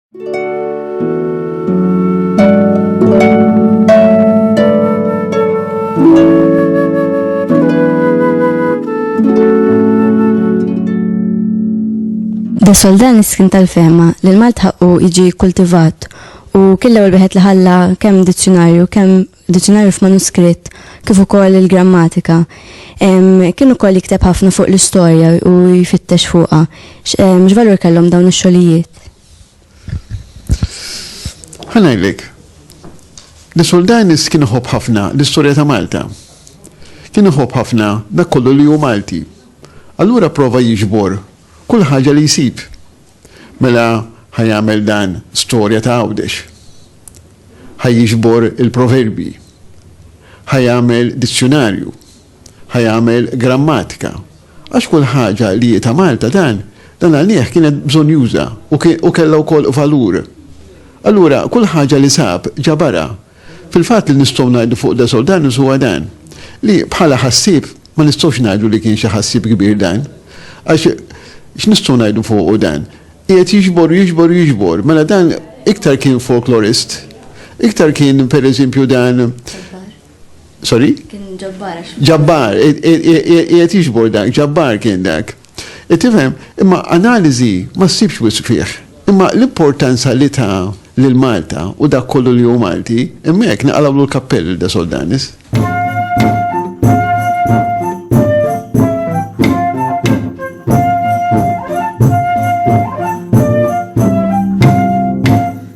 Da soldan iskin tal-fema li l-Malt ħaqqu jiġi kultivat u killa u l-biħet li ħalla kemm dizzjonarju, kemm diċinarju f'manuskritt kif ukoll il-grammatika. Kien ukoll jikteb ħafna fuq l-istorja u jfittex fuqha. X'valur kellhom dawn ix-xogħlijiet? Ħanajlik, li Soldanis kien iħobb ħafna l-istorja ta' Malta. Kien iħobb ħafna dak kollu li hu Malti. Allura prova jiġbor kull ħaġa li jsib Mela ħa jagħmel dan storja ta' Għawdex. Ħa jiġbor il-proverbji. Ħa jagħmel dizzjunarju. Ħa jagħmel grammatika. Għax kull ħaġa li hi ta' Malta dan, dan għalih kienet bżonjuża u kellha wkoll valur. Allura kull ħaġa li sab ġabarha Fil-fatt li nistgħu ngħidu fuq De Soldanus huwa dan, li bħala ħassieb ma nistgħux ngħidu li kien xi ħassieb kbir dan. Għax x'nistgħu ngħidu fuqu dan? Qiegħed jiġbor u jiġbor u jiġbor. Mela dan iktar kien folklorist, iktar kien pereżempju dan Sorry? Kien ġabbar. Ġabbar, qiegħed jiġbor dak, ġabbar kien dak. Qed tifhem? Imma analiżi ma ssibx wisq fih. Imma l-importanza li ta lil Malta u dak kollu li hu Malti, hemmhekk naqalgħulu l-kappell lil De Soldanis.